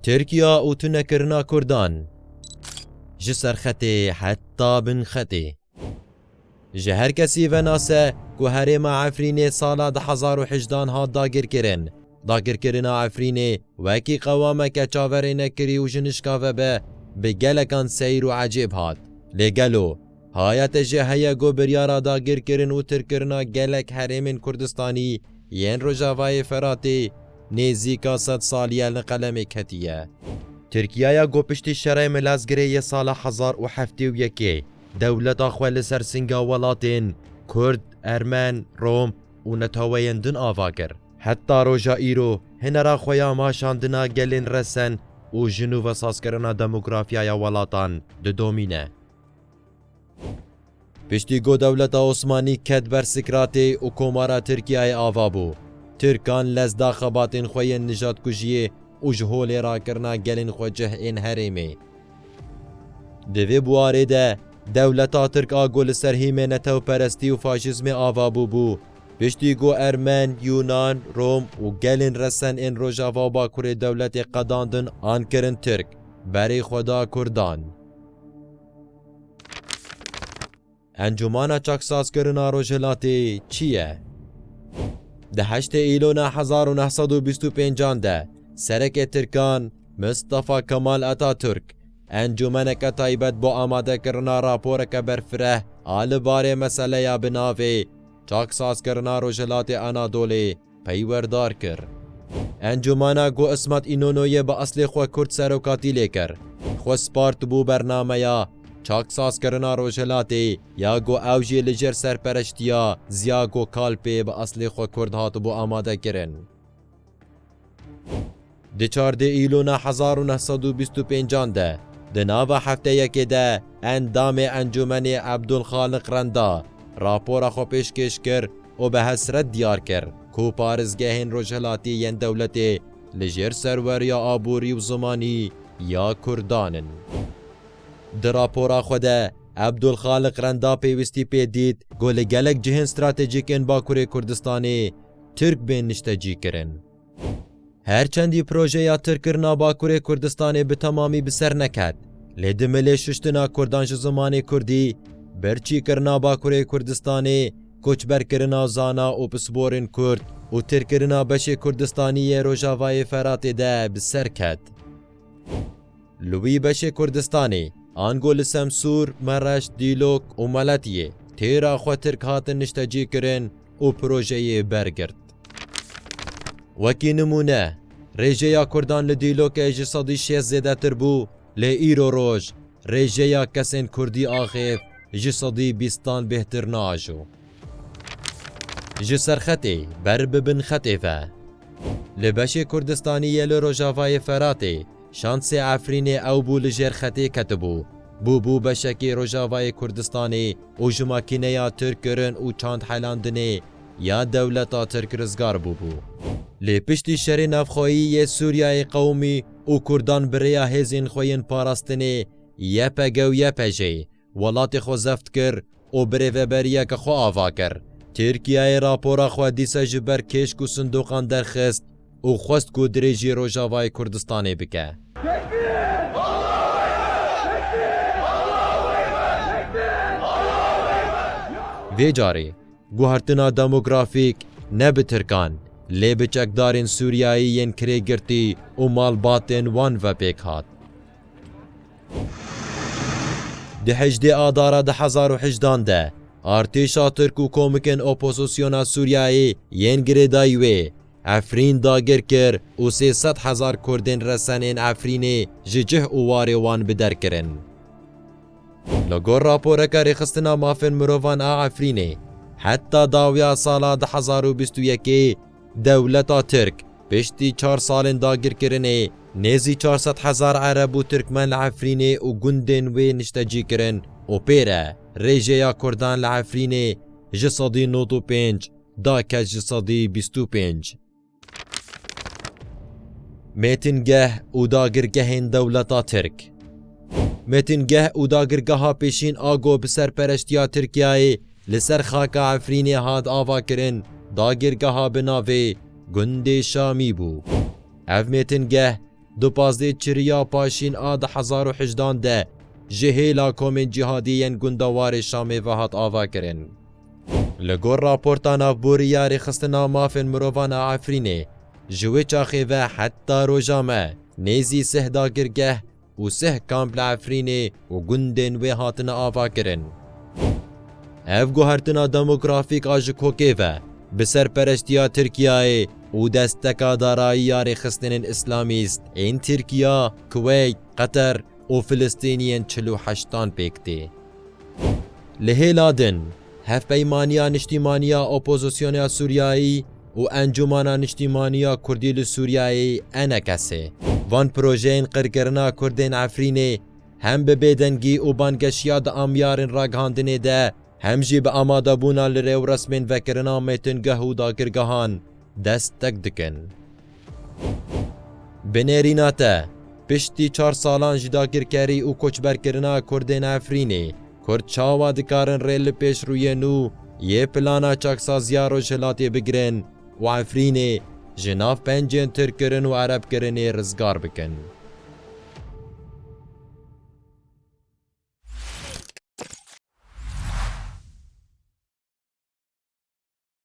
Tirkiya û tunekirina Kurdan ji serxetê heta bin xetê. Ji her kesî venase ku herêma Efrînê sala du hezar û hejdan hat dagirkirin, dagirkirina Efrînê wekî qewameke çaverênekirî û jinişka vebe bi gelekan seyr û ecêb hat. Lê gelo Hayate jî heye ku biryara dagirkirin û tirkirina gelek herêmên Kurdistanî yên Rojavayê Feratê nêzîka sed saliye li qelemê ketiye. Tirkiyaya ku piştî şerê Milazgirê yê sala hezar û heftê û yekê dewleta xwe li ser singa welatên Kurd, Ermen, Rom û netaweyên din ava kir, heta roja îro hinera xwe ya maşandina gelên resen û ji nû ve sazkirina demografyaya welatan didomîne. Piştî ku dewleta Osmanî ket ber Sikratê û Komara Tirkiyeyê ava bû, Tirkan lez da xebatên xwe yên nijatkujiyê û ji holê rakirina gelên xwe cih ên herêmê. Di vê bûarê de dewleta Tirk a ku li ser hîmê netewperestî û faşîzmê ava bûbû, piştî ku Ermen, Yûnan, Rom û gelên resen ên Rojava û Bakurê dewletê qedandin an kirin Tirk, berê xwe da Kurdan. Encûmana Çaksazkirina Rojhilatê çi ye? Di heştê Îlona hezar û neh sed û bîst û pêncan de Serekê Tirkan Mistefa Kemal Atatürk encûmeneke taybet bo amadekirina raporeke berfireh a li barê meseleya bi navê Çaksazkirina Rojhilatê Anadolê peywerdar kir. Encûmena ku Ismat Înonoyê bi eslê xwe kurd serokatî lê kir, xwe spartibû bernameya çaksazkirina Rojhilatê ya ku ew jî li jêr serpereştiya Ziya Gokalpê bi eslê xwe kurd hatibû amadekirin. Di çar dê Îlûna hezar û neh sed û bîst û pêncan de di nava hefteyekê de endamê Encûmenê Ebdulxaliq Renda rapora xwe pêşkêş kir û bi hesret diyar kir ku parêzgehên rojhilatî yên dewletê li jêr serweriya aborî û zimanî ya Kurdan in. Di rapora xwe de Ebdulxaliq Renda pêwîstî pê dît ku li gelek cihên stratejîk ên Bakurê Kurdistanê Tirk bên niştecîkirin. Her çendî projeya tirkirina Bakurê Kurdistanê bi temamî bi ser neket, lê di milê şuştina Kurdan ji zimanê Kurdî, birçîkirina Bakurê Kurdistanê, koçberkirina zana û pisporên Kurd û tirkirina beşê Kurdistanî yê Rojavayê Feratê de bi ser ket. Li wî beşê Kurdistanê, ango li Semsûr, Mereş, Dîlok û Meletiyê têra xwe Tirk hatin niştecîkirin û projeyê bergirt. Wekî nimûne, rêjeya Kurdan li Dîlokê ji sedî şêst zêdetir bû, lê îro roj rêjeya kesên Kurdî axêv ji sedî bîstan bêhtir naajo. Ji serxetê ber bi bin xetê ve. Li beşê Kurdistanî yê li rojavayê Feratê, şansê Efrînê ew bû li jêr xetê ketibû. Bûbû beşekî rojavayê Kurdistanê û ji makîneya Tirk kirin û çand helandinê ya dewleta Tirk rizgar bûbû. Lê piştî şerê navxweyî yê Sûriyeyê qewimî û Kurdan bi rêya hêzên xwe yên parastinê YPG û YPJ'ê Welatê xwe zeft kir û birêveberiyeke xwe ava kir. Tirkiyeyê rapora xwe dîsa ji ber kêşk û sindoqan derxist û xwest ku dirêjî Rojavayê Kurdistanê bike. Vê carê guhertina demografîk ne bi Tirkan lê bi çekdarên Sûriyeyî yên kirêgirtî û malbatên wan ve pêk hat. Di hejdê Adara du hezar û hejdan de artêşa Tirk û komikên opozisyona Sûriyeyê yên girêdayî wê Efrîn dagir kir û sê sed hezar Kurdên resen ên Efrînê ji cih û warê wan bi der kirin. Li gor raporeke Rêxistina Mafên Mirovan a Efrînê, heta dawiya sala du hezar û bîst û yekê, Dewleta Tirk, piştî çar salên dagirkirinê, nêzî çar sed hezar Ereb û Tirkmen li Efrînê û gundên wê niştecî kirin û pê re rêjeya Kurdan li Efrînê ji sedî nod û pênc da keç ji sedî bîst û pênc. Mêtingeh û dagirgehên dewleta Tirk Mêtingeh û dagirgeha pêşîn Ago bi serpereştiya Tirkiyeyê Li ser xaka Efrînê hat avakirin dagirgeha bi navê Gundê Şamî bû. Ev mêtingeh di pazdeh çiriya Paşîn a di hezar û hejdan de ji hêla komên cîhadî yên gunda warê Şamê ve hat avakirin. Li gor raporta navborî ya Rêxistina Mafên Mirovan a Efrînê, ji wê çaxê ve heta roja me nêzî sih dagirgeh û sih kamp li Efrînê û gundên wê hatine avakirin. Ev guhertina demografîk a ji kokê ve bi serperestiya Tirkiyeyê û desteka darayî ya rêxistinên îslamîst ên Tirkiya, Kuweyt, Qeter û Filistîniyên çil û heştan pêk tê. Li hêla din, Hevpeymaniya Niştîmaniya Opozisyona Sûriyeyê, û Encûmana Niştîmanî ya Kurdî li Sûriyeyê, Enekesê, van projeyên qirkirina Kurdên Efrînê hem bi bêdengî û bangeşiya di amyarên ragihandinê de hem jî bi amadebûna li rêwresmên vekirina mêtingeh û dagirgehan dest teg dikin. Bi nêrîna te, piştî çar salan ji dagirkerî û koçberkirina Kurdên Efrînê, Kurd çawa dikarin rê li pêşrûyê nû yê plana çaksaziya Rojhilatê bigirin û Efrînê ji nav pencên tirkkirin û erebkirinê rizgar bikin?